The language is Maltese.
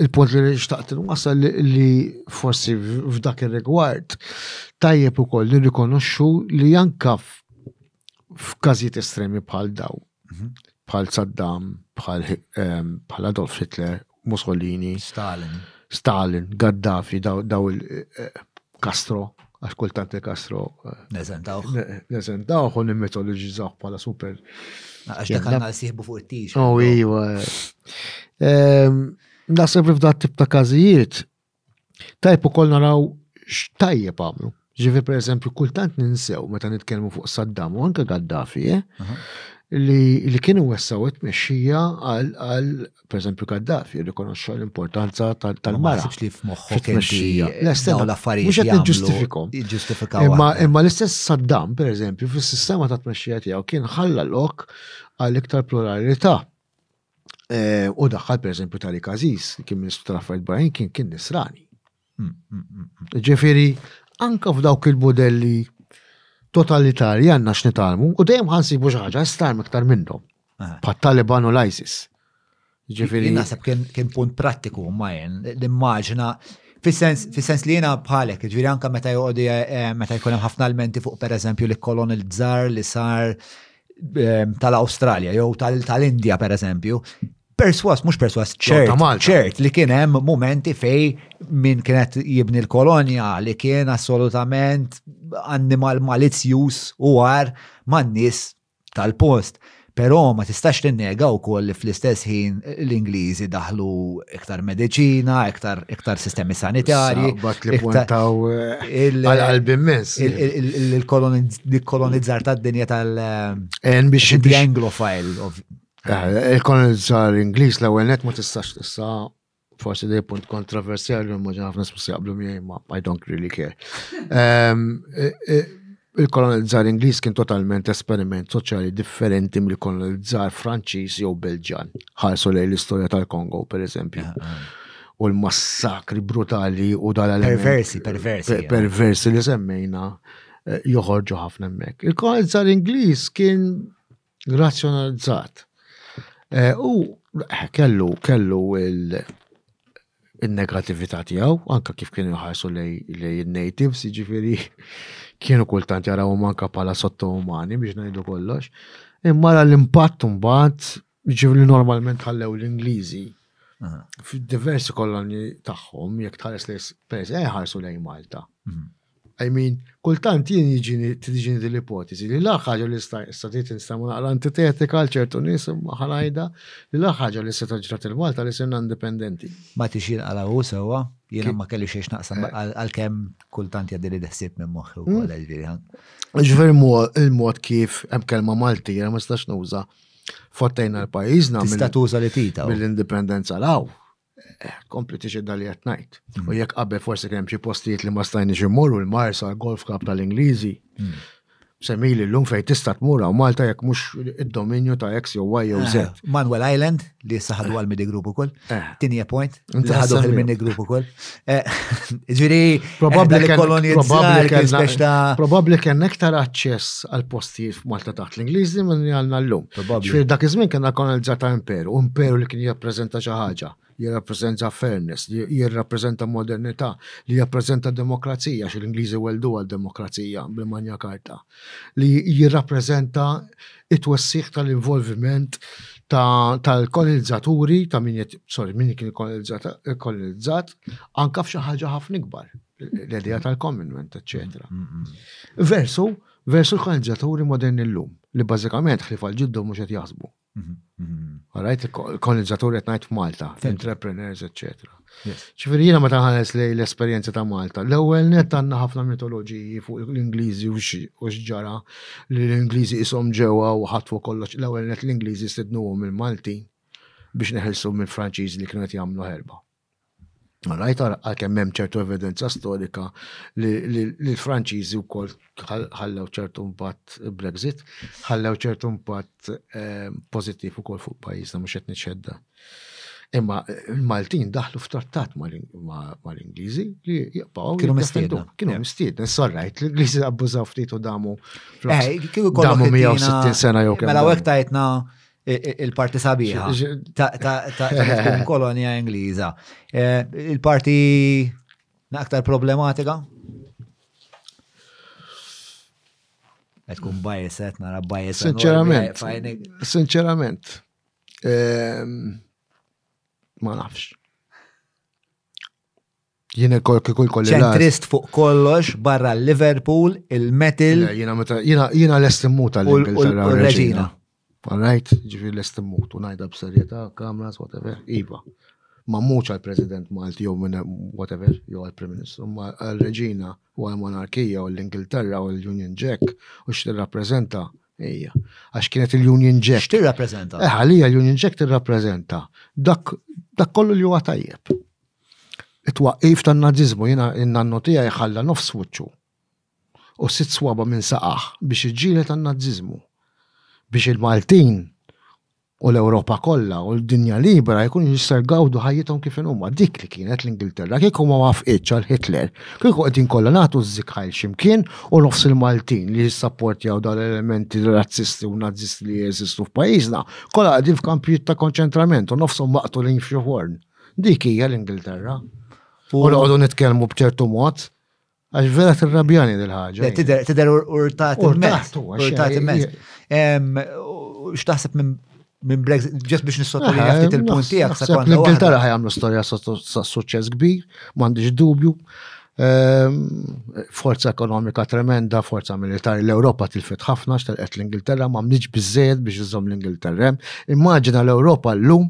il-punt li xtaqt wasal li forsi f'dak ir-rigward tajjeb ukoll li rikonoxxu li anka f'każijiet estremi bħal daw, mhm. bħal Saddam, bħal ehm, Adolf Hitler, Mussolini, Stalin, Stalin, Gaddafi, daw eh, Castro, għax kultant il-Castro. Eh, Nezentawħ. Nezentawħ u nimmitoloġizzaw bħala super. Għax dak għanna siħbu fuq it-tix. Oh, iwa. Ehm, Nasib li f'dat tip ta' kazijiet, tajpu kol naraw x'tajjeb għamlu. Ġifi per eżempju, kultant ninsew meta nitkellmu fuq Saddam u anke Gaddafi, eh, li kienu wessaw it-mexxija għal per eżempju Gaddafi jirrikonoxxa l-importanza tal-mara. Ma sibx li f'moħħok inti dawn l-affarijiet mhux qed niġġustifikhom. Jiġġustifikaw. Imma imma l-istess Saddam, per eżempju, fis-sistema ta' tmexxija tiegħu kien ħalla lok għal iktar pluralità. Eh, u daħħal per eżempju Tariq Aziz, kien Ministru tal-Affarijiet Barranin, kien kien Nisrani. Ġifieri, anke f'dawk il-mudelli totalitarji għandna x'nitalmu u dejjem ħansibu xi ħaġa starm iktar minnhom. Pat-Taliban u l-ISIS. Ġifieri. Jien naħseb kien punt prattiku ma jen, l-immaġna Fis-sens li jiena bħalek, ġifieri anke meta joqogħdu eh, meta jkun hemm ħafna elementi fuq pereżempju li kolonel żar li sar eh, tal-Awstralja jew tal-Indja pereżempju, perswas, mux perswas, ċert, ċert li kien hemm momenti fej minn kienet jibni l-kolonja li kien assolutament annimal malizzjus u għar man-nies tal-post. Però ma tistax tinnega wkoll li fl-istess ħin l-Ingliżi daħlu iktar mediċina, iktar, iktar sistemi sanitarji. Bat li puntaw eh, għal-qalb immens. Il-kolonizzar tad-dinja tal- eh, biex. Anglofile, Eh, Il-kolonizzar Ingliż l-ewwel net ma tistax tista' forsi li punt kontroversjali ma ġen ħafna smus jaqblu miegħi ma I don't really care. Ehm, eh, eh, Il-kolonizzar Ingliż kien totalment esperiment soċjali differenti mill-kolonizzar Franċiż jew Belġan. Ħarsu lejn l-istorja tal-Kongo, per eżempju. U l-massakri brutali u dal Perversi, perversi, per- ja. Perversi li semmejna eh, joħorġu ħafna hemmhekk. Il-kolonizzar Ingliż kien razzjonalizzat. Eh, u eh, kellu kellu il- il-negativita tijaw, anka kif kienu jħarsu lej il-natives, ġifiri, kienu kultant jaraw manka pala sotto umani biex najdu kollox. Imma l impatt mbagħad ġifiri normalment ħallew l-Ingliżi fil-diversi kolonni tagħhom jekk tħares lejs pers eh, ħarsu lej Malta. Mhm. I mean, kultant jien jiġini tiġini din l-ipoteżi li l-aħħar ħaġa li sta tgħid nista' ma naqra antitetika għal ċertu nies imma ħanajda li l-aħħar ħaġa li seta' ġrat lil Malta li sirna indipendenti. Ma tix jinqala' hu sewwa, jiena ma kelli xejn x'naqsam għalkemm kultant jgħaddili l-ħsieb minn moħħi wkoll ġifieri. Ġifieri l-mod kif hemm kelma Malti jiena ma nistax nuża' fottejna l-pajjiżna. Tista' tuża li tita. Mill-indipendenza l-hawn. Kompli tixedda li qed ngħid. U jekk qabel forsi kien hemm xi postijiet li ma stajniex immorru l-Marsa, l-Golf Club tal-Ingliżi. Hmm. Semili l-lum fej tista tmur u Malta jekk mhux id-dominju ta' X jew Y jew Z. Eh, Manuel Island li saħadu eh. għal mini group ukoll. Eh. Tinje point. Saħadu għal mini group ukoll. Eh, ġiri, probabli li kolonizzazzjoni. Probabli kien iktar aċċess għal postijiet f'Malta taħt l-Ingliżi minn għalna l-lum. Ġiri, dak iż-żmien kien kolonizzata imperu, imperu li kien jappreżenta xi ħaġa jirrappreżenta fairness, jirrappreżenta modernità, li jirrappreżenta demokrazija, xil ingliżi weldu għal demokrazija bil-manja karta. li jirrappreżenta it-twessiħ tal-involviment tal-kolonizzaturi, ta' min sorry, min kien kolonizzat, anka f'xi ħaġa ħafna ikbar, l-idea tal-commonwealth, eċetera. Mm, mm, mm. Versu, versu l-kolonizzaturi moderni llum, li bażikament ħlifa l-ġiddu mhux qed jaħsbu, Għarajt, kolonizzatur qed ngħid f'Malta, entrepreneurs, etc. Ċifieri jiena meta ħares li l-esperjenza ta' Malta, l-ewwel net għandna ħafna mitoloġiji fuq l-Ingliżi u x'ġara li l-Ingliżi ishom ġewwa u ħatfu kollox, l-ewwel net l-Ingliżi stidnuhom il-Maltin biex neħilsu mill-Franċiżi li kienu qed jagħmlu ħerba. Rajt għalkemm hemm ċertu evidenza storika li l-Franċiżi wkoll ħallew ċertu impatt Brexit, ħallew ċertu impatt eh, pożittiv ukoll fuq pajjiżna mhux qed niċċedda. Imma l-Maltin daħlu f'trattat mal-Ingliżi li jibqgħu. Kienu mistiedna. Kienu mistiedna. Sorrajt, l-Ingliżi abbużaw ftit u damu. Eh, damu 160 sena jew kemm. Mela hekk tajtna Il-parti sabiħa ta' kolonja Ingliża. Eh, il-parti aktar problematika? Għed kun bajeset, nara bajeset. Sinċerament. Sinċerament. Ehm, ma nafx. Jien kol kikul kolli. Ċentrist fuq kollox barra l-Liverpool, il-Metal. Jina l-estimmut għall-Ingilterra. U l-Reġina. Alright, ġifi l-estimmut, u najda b'serjeta, kameras, whatever, iva. Ma muċ għal-President Malti, jew minn whatever, jew għal-Prim Ministru, ma għal-Reġina, u għal-Monarkija, u l-Ingilterra, u l-Union Jack, u x-tirrapprezenta. Ejja, għax kienet il-Union Jack. Tirrapprezenta. Eħalija eh, l-Union Jack tirrapprezenta. Dak kollu li huwa tajjeb. It-twaqqif tan-Naziżmu jiena n-nannu tiegħi ħalla nofs wiċċu u sitt swaba' minn saqajh biex iġġieled għan-Naziżmu, biex il-Maltin u l-Ewropa kollha u l-dinja libera jkunu jistgħu jgawdu ħajjithom kif inhuma. Dik li kienet l-Ingilterra. Kieku ma waffqitx għal Hitler, kieku qegħdin kollha nagħtu ż-żikħajl xi mkien u nofs il-Maltin li jissapportjaw dawn l-elementi razzisti u Nazisti li jeżistu f'pajjiżna, kollha qegħdin f'kampijiet ta' konċentrament u nofshom maqtulin f'xi forn. Dik hija l-Ingilterra. U noqogħdu nitkellmu b'ċertu mod, għax vera tirrabjani dil ħaġa Tidher urtat immens. Urtat immens. X'taħseb minn minn Brexit, ġest biex nissotolja eh, ftit il-punt tiegħek sa kont. L-Ingilterra ħajamlu storja sa' suċċess kbir, m'għandix dubju. Ehm, forza ekonomika tremenda, forza militari, l-Europa tilfet ħafna, xtelqet l-Ingilterra, ma mniġ bizzed biex iżom l-Ingilterra. Immaġina l-Europa l-lum